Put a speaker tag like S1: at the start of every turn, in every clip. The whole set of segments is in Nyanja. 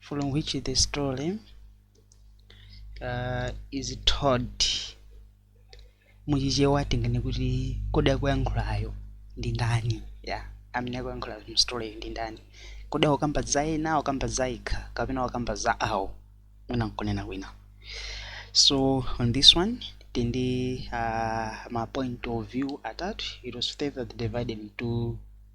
S1: from which the story uh, is told muchichewa tingene kuti kodi akuyankhulayo ndi ndani ya amene akuyankhula mstoryyo ndi ndani kodi akukamba za ena akukamba za yekha kapena akukamba za awo mwina nkunena kwina so on this one tindi uh, ma point of view atatu it was further divided into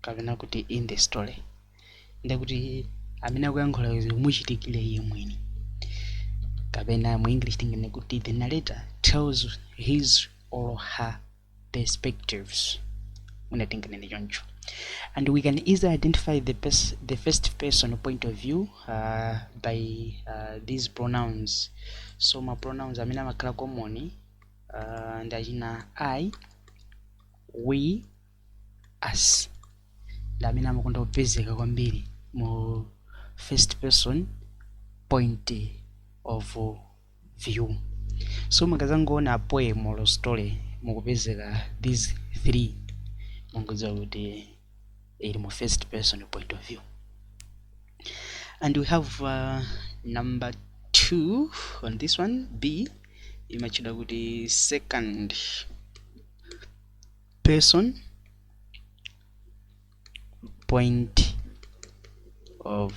S1: kapena kuti in the story ndiye kuti amene akuyankhula zomuchitikira iye mwini kapena mu english tingene kuti the narrator tells his or her perspectives mwina tinganene choncho and we can easily identify the, pers the first person point of view uh, by uh, these pronouns so ma pronouns amene amakhala common uh, ndi achina i we us ndi amene amakonda kupezeka kwambiri mu first person point of view so mukazangoona poem or story mukupezeka these three mungodziwa kuti ili mu first person point of view and we have uh, number two on this one b imatchedwa kuti second person point of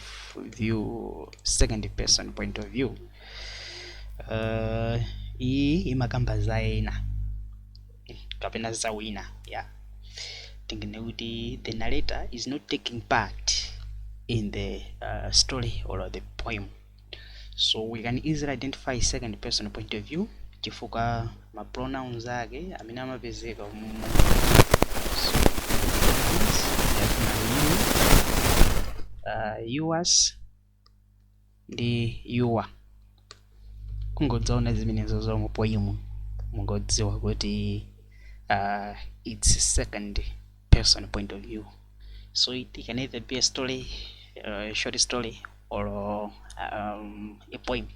S1: view second person point of view uh, iyi imakamba za ena kapena za wina yeah tingene kuti the narrator is not taking part in the uh, story or the poem so we can easily identify second person point of view chifukwa ma pronouns ake amene amapezeka mu so, uh, yours ndi your kungodzaona zimenezo zo mu poem mungodziwa kuti uh, its second person point of view so it, it can either be a story uh, short story or um, a poem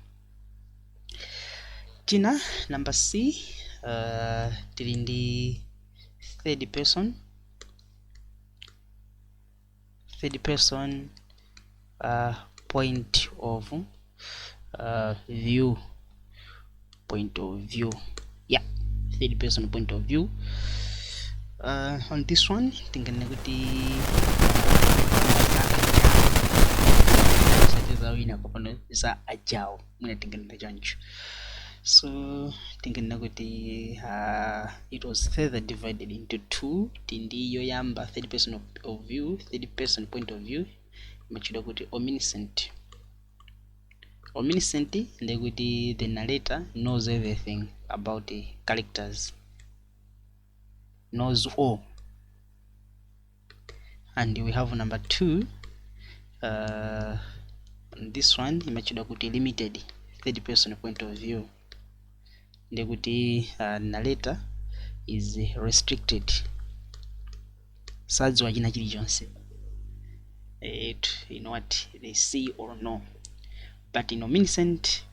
S1: tina number c uh, tili ndi third person third person uh, point of uh, view point of view yeah third person point of view uh, on this one tingene kuti za wina kapano za ajawo mwina tinganene choncho so tinganena kuti uh, it was further divided into two tindi yoyamba third person of, of view third person point of view imatchedwa kuti omniscient omniscient ndiye kuti the narrator knows everything about the characters knows all and we have number 2 uh, this one imatchedwa kuti limited third person point of view ndikuti uh, narrator is restricted sadziwa china chilichonse it, you know what they see or no but in omniscient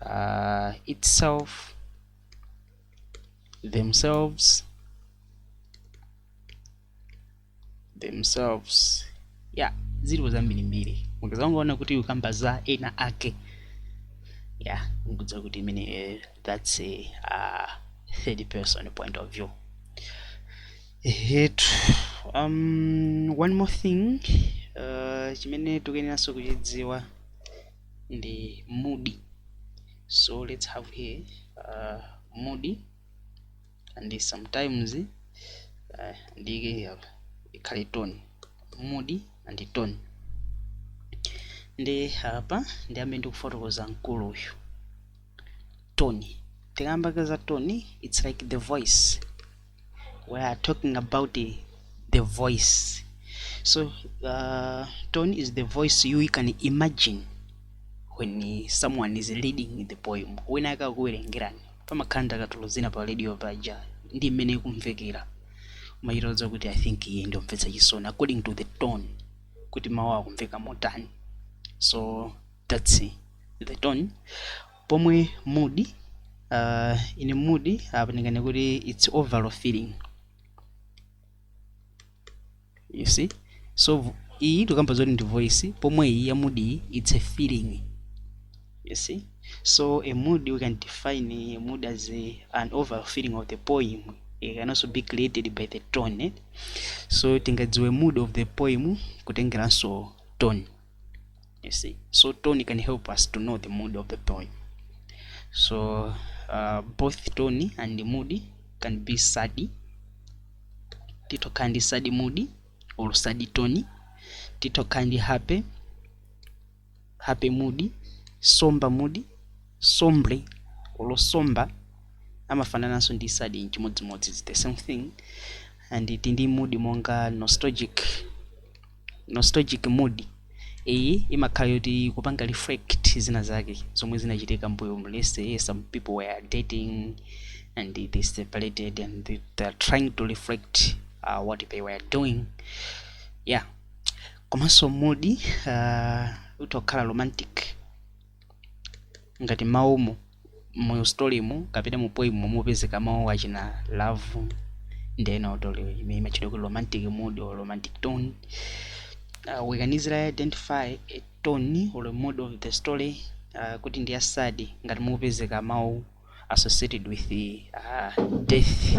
S1: uh, itself themselves themselves yeah zilipo zambirimbiri mukazangoona kuti ukamba za ena ake yeah mungodziwa kuti imene eh, that's a uh, third person point of view ehetu um, one more thing uh, chimene tikuyeneranso kuchidziwa ndi mood so let's have here uh, mood and sometimes uh, ndiyike apa ikhale tone mood and tone ndi apa ndiyambe ndi kufotokoza mkulu uyu tone tikamakamba za tone it's like the voice we are talking about uh, the voice so uh, tone is the voice you can imagine when uh, someone is reading the poem wina akakuwerengerani pamakhala ndakatulo zina pa radio paja ndi mmene ikumvekera mumatha kuuza kuti i think iye ndi yomvetsa chisoni according to the tone kuti mawu akumveka motani so that's uh, the tone pomwe mood uh, in mood apa ndingane kuti its overall feeling you see so v- iyi tikamba zoti ndi voice pomwe iyi ya mood iyi its a feeling you see so a mood we can define a mood as a, an overall feeling of the poem it can also be created by the tone eh? so tingadziwe mood of the poem kutengeranso tone you see so tone can help us to know the mood of the poem so uh, both tone and mood can be sadi tito kandi sadi mood or sadi tone tito kandi happy happy mood somber mood sombre or somber amafanananso ndi sadi nchimodzimodzi its the same thing and tindi mood monga nostalgic nostalgic mood iyi imakhala yoti kupanga reflect zina zake zomwe zinachitika mbuyo let's say some people were dating and they separated and they, they are trying to reflect uh, what they were doing yeah komanso mood uh, itha kukhala romantic ngati mawumu mu storymu kapena mu poemmu mupezeka mawu achina love ndi ena otero imeneyo imatchedwa kuti romantic mood or romantic tone uh, we can easily identify a tone or a mood of the story uh, kuti ndi ya sad ngati mupezeka mawu associated with uh, death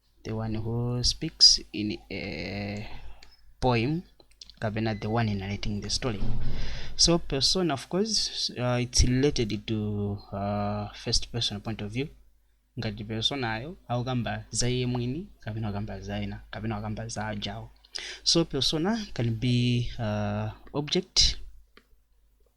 S1: the one who speaks in a poem kapena the one narrating the story so persona of course uh, it's related to uh, first person point of view ngati personayo akukamba za iye mwini kapena akukamba za ena kapena akukamba za ajawo so persona can be uh, object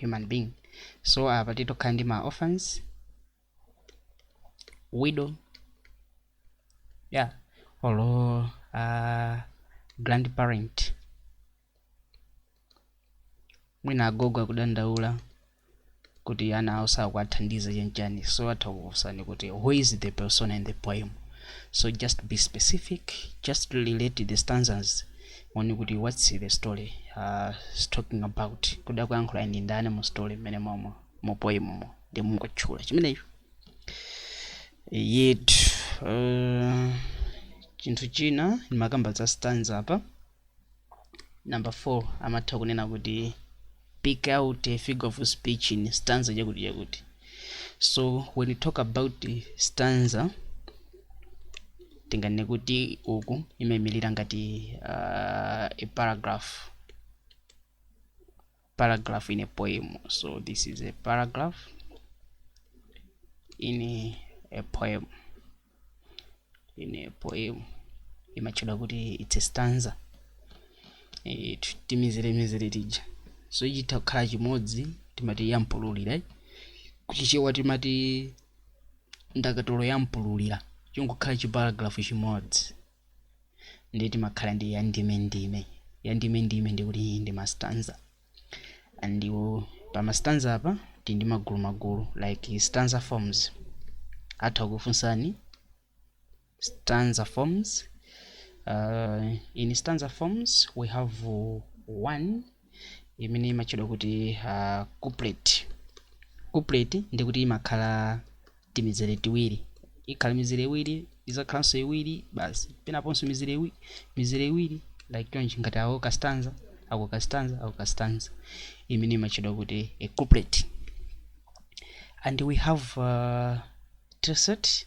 S1: human being so apa titha kukhala ndi ma orphans widow yeah or uh, grandparent mwina agogo akudandaula kuti ana awo sakuwathandiza chanchani so atha kukufunsani kuti who is the persona in the poem so just be specific just relate the stanzas 1 kuti what's the story talking about kodi akuyankhulayo ndi ndani mu story mmene momo mu poem mo ndiye mungotchula chimenecho yet uh, chinthu china ndimakakamba za stanza apa number 4 amatha kunena kuti pick out a figure of speech in stanza chakuti chakuti so when you talk about stanza tinganene kuti uku imaimilira ngati uh, a paragraph paragraph in a poem so this is a paragraph in a, a poem in a poem imatchedwa kuti it's a stanza eh, t- timizeremizere tija so chitha kukhala chimodzi timati yampululira kuchichewa timati ndakatulo yampululira chingokhala chiparagraph chimodzi ndiye timakhala ndi ya ndime ndime ya ndime ndime ndiye kuti iyi ndi mastanza and iwo pa mastanza apa tili ndi magulu magulu like stanza forms atha kukufunsani stanza forms uh, in stanza forms we have uh, one imene imatchedwa kuti uh, couplet couplet ndi kuti imakhala timizere tiwiri ikhala mizere iwiri izakhalanso iwiri basi penaponso mizere iwiri mizere iwiri like chonchi ngati ako kastanza ako kastanza ako kastanza imene imatchedwa kuti a couplet and we have uh, tercet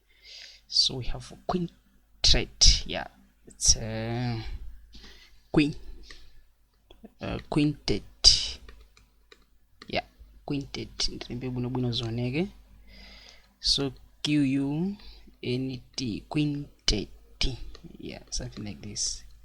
S1: so we have quintet yeah it's a uh, queen uh, quintet yeah quintet ndilembe bwino bwino zoneke so q u n t quintet yeah something like this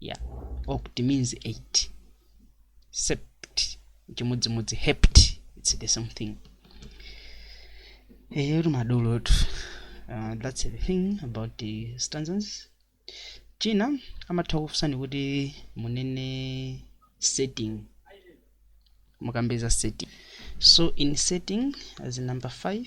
S1: ya oct means 8 sept chimodzimodzi hept its the same thing eyetu madolo uh, that's the thing about the stanzas china amatha kukufunsani kuti munene setting mukambe za setting so in setting as number 5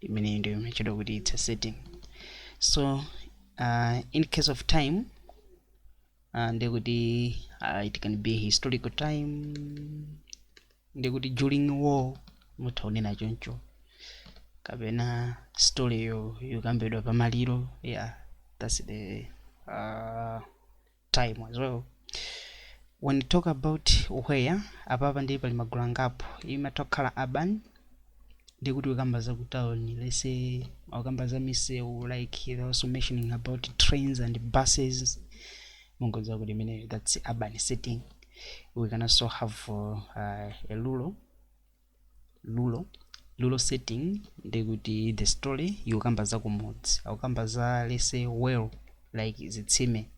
S1: imeneyi ndiyo imatchedwa kuti it's a setting so uh, in case of time uh, ndekuti uh, it can be historical time ndekuti during war mutha kunena choncho kapena story yokambidwa pamaliro yeah that's the uh, time as well when you talk about where apapa ndiye pali magulu angapo imatha kukhala urban ndiye kuti ukamba za ku town let's say ukamba za misewu like they're also mentioning about trains and buses mungodziwa kuti imeneyo that's urban setting we can also have uh, uh, a rural rural rural setting ndi kuti the story ikukamba za kumudzi akukamba za let's say well like zitsime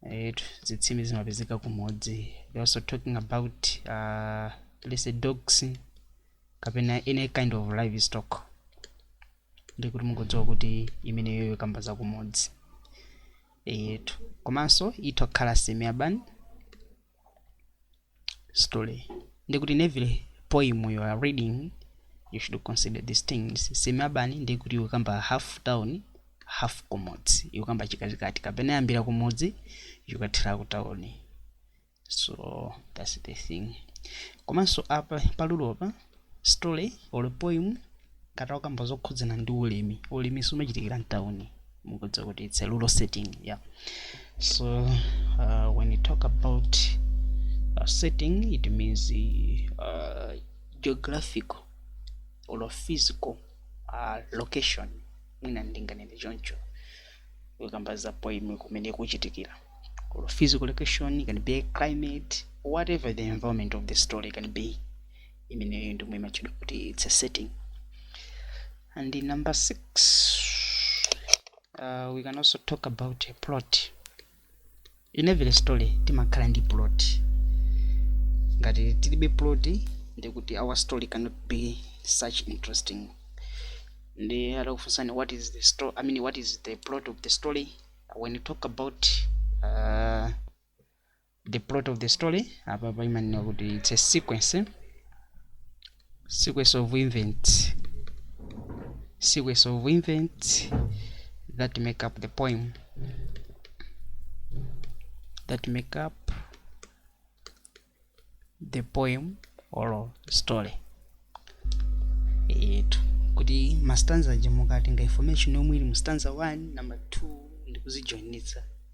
S1: eh, zitsime zimapezeka kumudzi they also talking about uh, let's say dogs kapena any kind of livestock ndi kuti mungodziwa kuti imeneyo ikukamba za kumudzi eyetu komanso itha kukhala semi urban story ndikuti in every poem you are reading you should consider these things semi urban ndikuti ikukamba half town half kumudzi ikukamba chikatikati kapena yambira kumudzi ikathera ku town so that's the thing komanso apa pa rural pa Story or poem ngati ukukamba zokhudzana ndi ulimi ulimi sumachitikira mtauni mukudziwa kuti it's a rural setting yeah so uh, when you talk about uh, setting it means uh, geographical or physical uh, location mwina ndinganene choncho kukamba za poem kumene kuchitikira or physical location can be climate whatever the environment of the story can be imeneyo ndi imene imatchedwa kuti it's a setting and in number six uh, we can also talk about a plot in every story timakhala ndi plot ngati tilibe plot nde kuti our story cannot be such interesting nde atakufunsani what is the story i mean what is the plot of the story when you talk about uh, the plot of the story apapa imanena kuti it's a sequence sequence of events sequence of events that make up the poem that make up the poem or story eti kuti mastanza aja mukatenga information yomwe ili mu stanza 1 number 2 ndikuzijoinitsa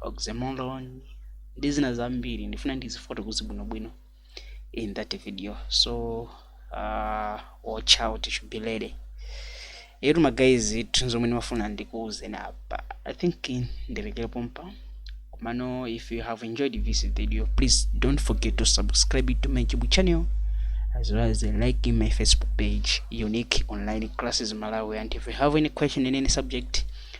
S1: oxymoron ndi zina zambiri ndifuna ndizifotokoze bwinobwino in that video so uh, watch out you should be ready eetu magayizi zinthu zomwe ndimafuna ndikuwuzeni apa i think ndilekere pompa komano if you have enjoyed this video please don't forget to subscribe to my youtube channel as well as liking my facebook page unique online classes malawi and if you have any question in any subject